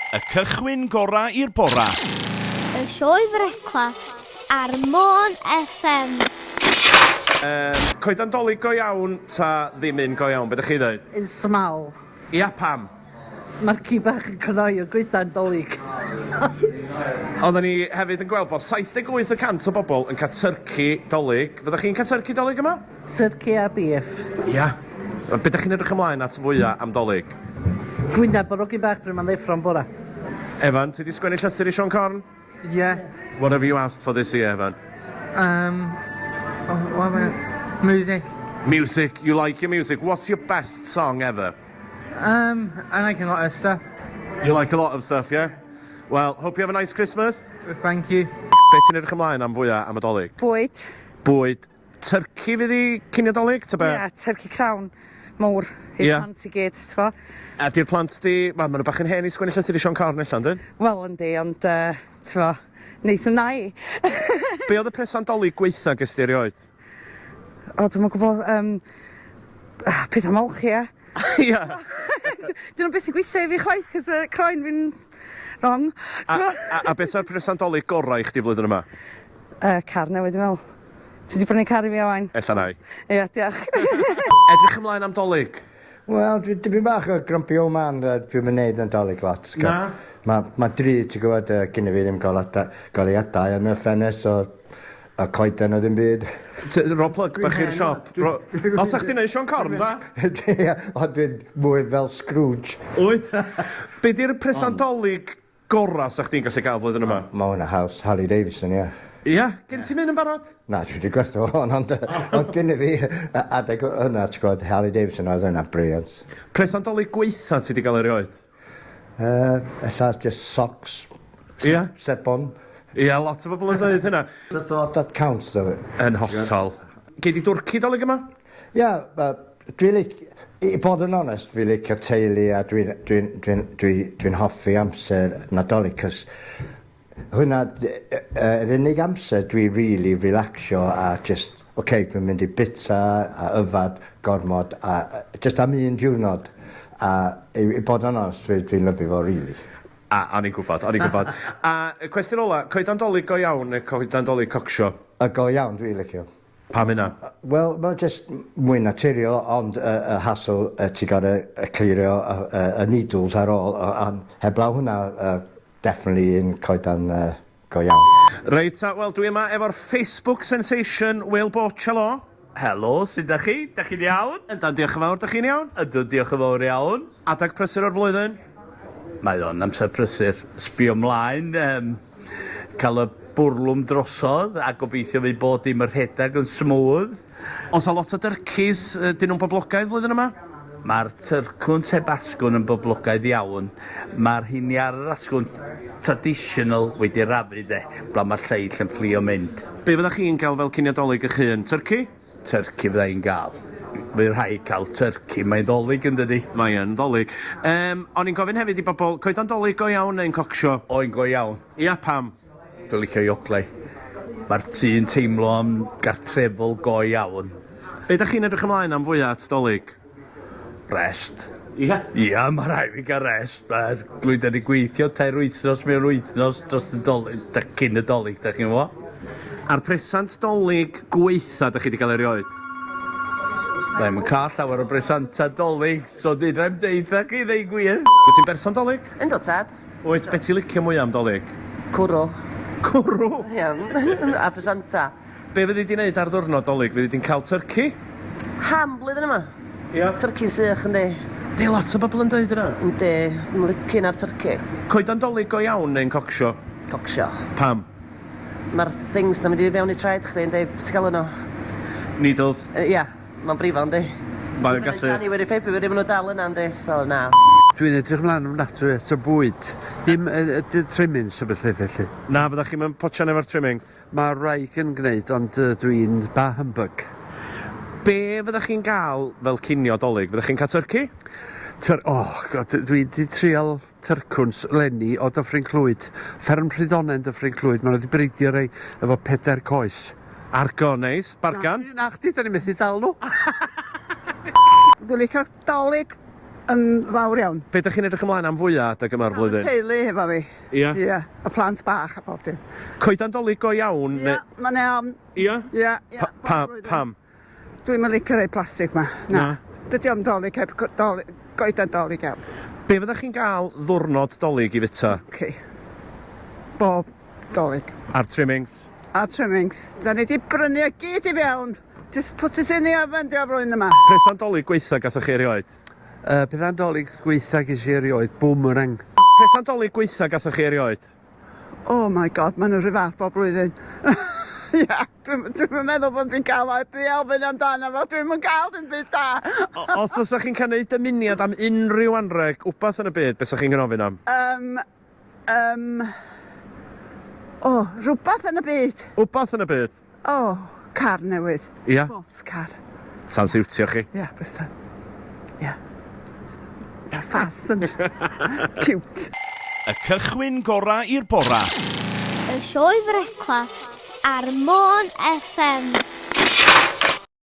Y cychwyn gorau i'r bora. Y sioe frecwast ar Môn FM. Yym, coeden dolig go iawn ta ddim un go iawn? Be dych chi'n ddeud? Un small. Ia, pam? Mae'r ci bach yn cnoi y goedan dolig. Oedden ni hefyd yn gweld bod 78 y cant o bobl yn cael tyrci dolig. Fyddech chi'n cael tyrci dolig yma? Turkey a beef. Ia. Be dach chi'n edrych ymlaen at fwya am Dolig? Gwynab a rogyn bach pryd mae'n ddeffro'n bora. Evan, ti 'di sgwennu llythyr i Siôn Corn? Ie. What have you asked for this year, Evan? Yym, wel mae... Music. Music, you like your music. What's your best song ever? Yym, I like a lot of stuff. You like a lot of stuff, yeah? Wel, hope you have a nice Christmas. Thank you. Be ti'n edrych ymlaen am fwya am y Dolig? Bwyd. Bwyd. Turkey fydd i cinio dolyg, ta be? Ie, turkey crown mowr i'r Ie. plant i gyd, ti'n gwybod? A di'r plant di... Wel, maen nhw bach yn hen i sgwennu llythyr i Siôn Corn allan, dyn? Wel, yndi, ond, uh, ti'n gwybod, wnaethon na i. Be oedd y presant dolyg gweitha ges di erioed? O, dwi'n yn gwybod, um, pethau molch, ie. Ia. Dyn nhw beth i gweithio i fi chwaith, cys y croen fi'n wrong. A, a, a beth yw'r presant dolyg gorau i chdi flwyddyn yma? Uh, car newydd, dwi'n meddwl. Ti 'di prynu car i fi Owain? Ella nai. Ia diolch. Edrych ymlaen am Dolig? Wel dwi dipyn bach o grumpy old man yy dwi'm yn neud Nadolig lot t'go'. Na? Ma' ma'n drud ti gwbod yy gynno fi ddim golada- goleuadau yn y ffenest so y coeden o ddim byd. T- ro plug bach i'r siop. Ro- O 'sa chdi'n neud Siôn Corn dda? Ia ond dwi'n mwy fel Scrooge. Wyt? Be' 'di'r presant Dolig gora sa chdi'n gallu gael flwyddyn yma. Mae hwnna haws, Harley Davidson, ie. Ia? Gen ti'm un yn barod? Na, dwi 'di gwerthu fo hon ond o'dd gynna fi adeg yna ti'n gwbod Harley Davidson oedd yna brilliant. Pres am dolig gwaetha ti 'di gael erioed? Yy ella jyst socs. Ia? Sebon. Ia lot o bobl yn deud hynna. That counts though. Yn hollol. Gei di dwrci dolig yma? Ia yy Dwi lic- i bod yn onest fi licio teulu a dwi'n dwi'n dwi'n dwi dwi'n hoffi amser Nadolig cos hwnna d- yy yy yr unig amser dwi rili relacsio a jyst ok dwi'n mynd i bita a yfad gormod a yy jyst am un diwrnod a i i bod yn onest dwi dwi'n lyfio fo rili. A o'n i'n gwbod o'n i'n gwbod. A y cwestiwn ola, coedan 'Dolig go iawn ne' coedan 'Dolig cocsio? Y go iawn dwi licio. Pam hynna? Wel, mae jyst mwy naturiol, ond y y hassle yy ti gor'o' yy clirio y y y needles ar ôl o- on' heblaw hwnna yy definitely un coeden yy go iawn. Reit ta, wel dwi yma efo'r Facebook sensation Will Borcello. Helo, sud dach chi? Dach chi'n iawn? Yndan, diolch yn fawr, dach chi'n iawn? Ydw, diolch yn fawr iawn. Adeg prysur o'r flwyddyn? Mae o'n amser prysur. Sbio mlaen, yym. cael y bwrlwm drosodd a gobeithio fydd bod dim yn rhedeg yn smooth. Oes a lot o dyrcis? Ydyn nhw'n boblogaidd flwyddyn yma? Mae'r tyrcwn sef asgwrn yn boblogaidd iawn. Mae'r rheini ar yr asgwrn traditional wedi rafu de, blaw mae'r lleill yn fflio mynd. Be fyddech chi'n gael fel cinio Dolig eich hun? Tyrci? Turkey fydda i'n ga'l. By' rhaid ca'l turkey. Mae'n Ddolig yndydi? Mae yn Ddolig. Yym, o'n i'n gofyn hefyd i bobl, coeden Dolig go iawn neu'n cocsio? O, un go iawn. Ia, pam? Dwi'n licio Yoplait. Mae'r tŷ yn teimlo yn gartrefol go iawn. Be' 'dach chi'n edrych ymlaen am fwya at Dolig? Rest. Ia? Ia, mae rhaid fi gael rest. Mae'r glwyddau wedi gweithio tair wythnos mewn wythnos dros y dolig, da, cyn y dolig, da chi'n fo. A'r presant dolig gweitha da chi wedi cael erioed? Da i'n cael llawer o bresantau dolig, so dwi'n rhaid deud da chi ddeu gwir. Wyt ti'n berson dolig? Yn dod, tad. Wyt, beth ti'n licio mwyaf am dolig? Cwrw. Cwrw? Ia, a presantau. Be fyddi di'n neud ar ddiwrnod Dolig? Fyddi di'n cael tyrci? Ham blwyddyn yma. Ia? Tyrci'n sych yndi? Yndi, lot o bobl yn deud hynna. Yndi, yn licin ar tyrci. Coeden Dolig go iawn neu'n cocsio? Cocsio. Pam? Mae'r things na mynd i fewn i traed chdi yndi? Be ti'n galw nhw? Needles? Yy ia, mae'n brifo yndi? Mae o'n gallu... January, February, maen nhw dal yna yndi? So na. Dwi'n edrych ymlaen ofnadwy at y bwyd. Dim yy yy trimmings a bethe felly. Na, fyddach chi'm yn potsian efo'r trimmings. Mae wraig yn gwneud ond dw i'n bah humbug. Be fyddech chi'n gael fel cinio Dolig? Fyddech chi'n cael tyrci? Tyr- oh god, dwi wedi trial tyrcwns 'leni o Dyffryn Clwyd. Fferm Rhydonen Dyffryn Clwyd, maen nhw wedi breidio rei efo pedair coes. Argo, neis. Bargan? Na chdi, na chdi, 'dan ni methu dal nhw. Dwi'n licio Dolig yn fawr iawn. Be dych chi'n edrych ymlaen am fwya adeg yma o'r flwyddyn? Cael y teulu hefo fi. Ia? Ia. Y plant bach a pob dim. Coedan Dolig go iawn neu? Ia, mae'n iawn. Ia? Ia, ia. Pa-, pa-, pam? Dwi'm yn licio rei plastig 'ma. Na. Na? Dydi o'm Dolig heb go- doli- goedan Dolig iawn. Be fyddech chi'n gael ddwrnod Dolig i fita? Oce. Bob Dolig. A'r trimmings? A'r trimmings. 'Da ni 'di brynu o gyd i fewn! Jyst put it in the oven 'di o flwyddyn yma. Petha 'Dolig gwaetha gathoch chi erioed? Yy petha 'Dolig gwaetha ges i erioed, boomerang. Petha 'Dolig gwaetha gathoch chi erioed? Oh my God, maen nhw'r rhyw fath bob blwyddyn. Ia, dwi'm dwi'm yn meddwl bod fi'n cael o heb i ofyn amdano fo, dwi'm yn cael dim byd da! Os fysa chi'n cael neud dymuniad am unrhyw anreg, wbath yn y byd, be' 'sa chi'n gofyn am? Yym, Yym. O, rhywbeth yn y byd. Wbath yn y byd? O, car newydd. Ia? Sports car. Sa'n siwtio chi? Ia, bysa. Ia. Ia, ffas yn ciwt. Y cychwyn gorau i'r bora. Y sioe frecwast ar Môn FM.